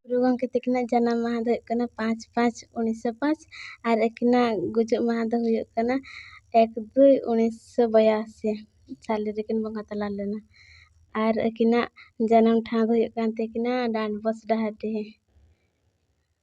ᱜᱩᱨᱩ ᱜᱚᱢᱠᱮ ᱛᱟᱹᱠᱤᱱᱟᱜ ᱡᱟᱱᱟᱢ ᱢᱟᱦᱟ ᱫᱚ ᱦᱩᱭᱩᱜ ᱠᱟᱱᱟ ᱯᱟᱸᱪ ᱯᱟᱸᱪ ᱩᱱᱤᱥᱥᱚ ᱯᱟᱸᱪ ᱟᱨ ᱟᱹᱠᱤᱱᱟᱜ ᱜᱩᱡᱩᱜ ᱢᱟᱦᱟ ᱫᱚ ᱦᱩᱭᱩᱜ ᱠᱟᱱᱟ ᱮᱠ ᱫᱩᱭ ᱩᱱᱤᱥᱥᱚ ᱵᱟᱭᱟᱥᱤ ᱥᱟᱞᱮ ᱨᱮᱠᱤᱱ ᱵᱚᱸᱜᱟ ᱛᱟᱞᱟ ᱞᱮᱱᱟ ᱟᱨ ᱟᱹᱠᱤᱱᱟᱜ ᱡᱟᱱᱟᱢ ᱴᱷᱟᱶ ᱫᱚ ᱦᱩᱭᱩᱜ ᱠᱟᱱ ᱛᱟᱹᱠᱤᱱᱟ ᱰᱟᱸᱰᱵᱳᱥ ᱰᱟᱦᱟᱨᱰᱤ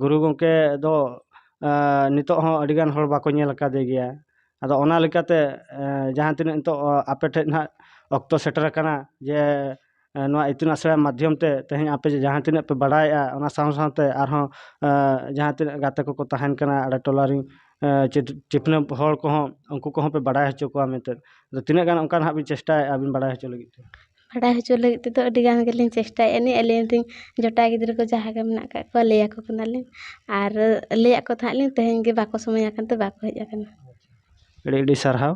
ᱜᱩᱨᱩ ᱜᱚᱢᱠᱮ ᱫᱚ ᱱᱤᱛᱚᱜ ᱦᱚᱸ ᱟᱹᱰᱤ ᱜᱟᱱ ᱦᱚᱲ ᱵᱟᱠᱚ ᱧᱮᱞ ᱟᱠᱟᱫᱮ ᱜᱮᱭᱟ ᱟᱫᱚ ᱚᱱᱟ ᱞᱮᱠᱟᱛᱮ ᱡᱟᱦᱟᱸ ᱛᱤᱱᱟᱹᱜ ᱱᱤᱛᱚᱜ ᱟᱯᱮ ᱴᱷᱮᱱ ᱦᱟᱸᱜ ᱚᱠᱛᱚ ᱥᱮᱴᱮᱨ ᱟᱠᱟᱱᱟ ᱡᱮ ᱱᱚᱣᱟ ᱤᱛᱩᱱ ᱟᱥᱲᱟ ᱢᱟᱫᱽᱫᱷᱚᱢ ᱛᱮ ᱛᱮᱦᱮᱧ ᱟᱯᱮ ᱡᱮ ᱡᱟᱦᱟᱸ ᱛᱤᱱᱟᱹᱜ ᱯᱮ ᱵᱟᱲᱟᱭᱮᱜᱼᱟ ᱚᱱᱟ ᱥᱟᱶ ᱥᱟᱶᱛᱮ ᱟᱨᱦᱚᱸ ᱡᱟᱦᱟᱸ ᱛᱤᱱᱟᱹᱜ ᱜᱟᱛᱮ ᱠᱚᱠᱚ ᱛᱟᱦᱮᱱ ᱠᱟᱱᱟ ᱟᱞᱮ ᱴᱚᱞᱟ ᱨᱮᱱ ᱪᱤᱯᱱᱟᱹ ᱦᱚᱲ ᱠᱚᱦᱚᱸ ᱩᱱᱠᱩ ᱠᱚᱦᱚᱸ ᱯᱮ ᱵᱟᱲᱟᱭ ᱦᱚᱪᱚ ᱠᱚᱣᱟ ᱢᱮᱱᱛᱮ ᱟᱫᱚ ᱛᱤᱱᱟᱹᱜ ᱜᱟᱱ ᱚᱱᱠᱟ ᱦᱟᱸᱜ ᱵᱤᱱ ᱪᱮᱥᱴᱟᱭᱮᱜᱼᱟ ᱟᱹᱵᱤᱱ ᱵᱟᱲᱟᱭ ᱦᱚᱪᱚ ᱞᱟᱹᱜᱤᱫ ᱛᱮ ᱵᱟᱰᱟᱭ ᱦᱚᱪᱚ ᱞᱟᱹᱜᱤᱫ ᱛᱮᱫᱚ ᱟᱹᱰᱤ ᱜᱟᱱ ᱜᱮᱞᱤᱧ ᱪᱮᱥᱴᱟᱭᱮᱫᱼᱟ ᱞᱤᱧ ᱟᱹᱞᱤᱧ ᱨᱮᱱ ᱡᱚᱴᱟᱣ ᱜᱤᱫᱽᱨᱟᱹ ᱠᱚ ᱡᱟᱦᱟᱸᱭ ᱜᱮ ᱢᱮᱱᱟᱜ ᱠᱟᱜ ᱠᱚᱣᱟ ᱞᱟᱹᱭᱟᱠᱚ ᱠᱟᱱᱟᱞᱤᱧ ᱟᱨ ᱞᱟᱹᱭᱟᱫ ᱠᱚ ᱛᱟᱦᱮᱸᱫ ᱞᱤᱧ ᱛᱮᱦᱮᱧ ᱜᱮ ᱵᱟᱠᱚ ᱥᱚᱢᱚᱭ ᱟᱠᱟᱱ ᱛᱮ ᱵᱟᱠᱚ ᱦᱮᱡ ᱟᱠᱟᱱᱟ ᱟᱹᱰᱤ ᱟᱹᱰᱤ ᱥᱟᱨᱦᱟᱣ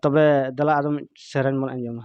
ᱛᱚᱵᱮ ᱫᱮᱞᱟ ᱟᱨᱚ ᱢᱤᱫ ᱥᱮᱨᱮᱧ ᱵᱚᱱ ᱟᱸᱡᱚᱢᱟ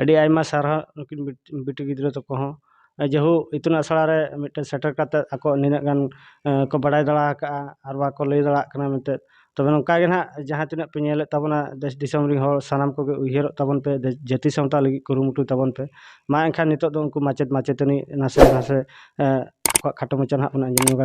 ᱟᱹᱰᱤ ᱟᱭᱢᱟ ᱥᱟᱨᱦᱟᱣ ᱱᱩᱠᱤᱱ ᱵᱤᱴᱤ ᱜᱤᱫᱽᱨᱟᱹ ᱛᱟᱠᱚ ᱦᱚᱸ ᱡᱮᱦᱳ ᱤᱛᱩᱱ ᱟᱥᱲᱟ ᱨᱮ ᱢᱤᱫᱴᱮᱱ ᱥᱮᱴᱮᱨ ᱠᱟᱛᱮᱫ ᱟᱠᱚ ᱱᱤᱱᱟᱹᱜ ᱜᱟᱱ ᱠᱚ ᱵᱟᱲᱟᱭ ᱫᱟᱲᱮ ᱟᱠᱟᱫᱼᱟ ᱟᱨ ᱵᱟᱠᱚ ᱞᱟᱹᱭ ᱫᱟᱲᱮᱭᱟᱜ ᱠᱟᱱᱟ ᱢᱮᱱᱛᱮ ᱛᱚᱵᱮ ᱱᱚᱝᱠᱟ ᱜᱮ ᱱᱟᱦᱟᱜ ᱡᱟᱦᱟᱸ ᱛᱤᱱᱟᱹᱜ ᱯᱮ ᱧᱮᱞᱮᱫ ᱛᱟᱵᱚᱱᱟ ᱫᱮᱥ ᱫᱤᱥᱚᱢ ᱨᱮᱱ ᱦᱚᱲ ᱥᱟᱱᱟᱢ ᱠᱚᱜᱮ ᱩᱭᱦᱟᱹᱨᱚᱜ ᱛᱟᱵᱚᱱ ᱯᱮ ᱡᱟᱹᱛᱤ ᱥᱟᱶᱛᱟ ᱞᱟᱹᱜᱤᱫ ᱠᱩᱨᱩᱢᱩᱴᱩᱭ ᱛᱟᱵᱚᱱ ᱯᱮ ᱢᱟ ᱮᱱᱠᱷᱟᱱ ᱱᱤᱛᱚᱜ ᱫᱚ ᱩᱱᱠᱩ ᱢᱟᱪᱮᱫ ᱢᱟᱪᱮᱛᱟᱹᱱᱤ ᱱᱟᱥᱮ ᱱᱟᱥᱮ ᱟᱠᱚᱣᱟᱜ ᱠᱷᱟᱴᱚ ᱢᱟᱪᱷᱟ ᱱᱟᱦᱟᱜ ᱵᱚᱱ ᱟᱸᱡᱚᱢ ᱧᱚᱜᱟ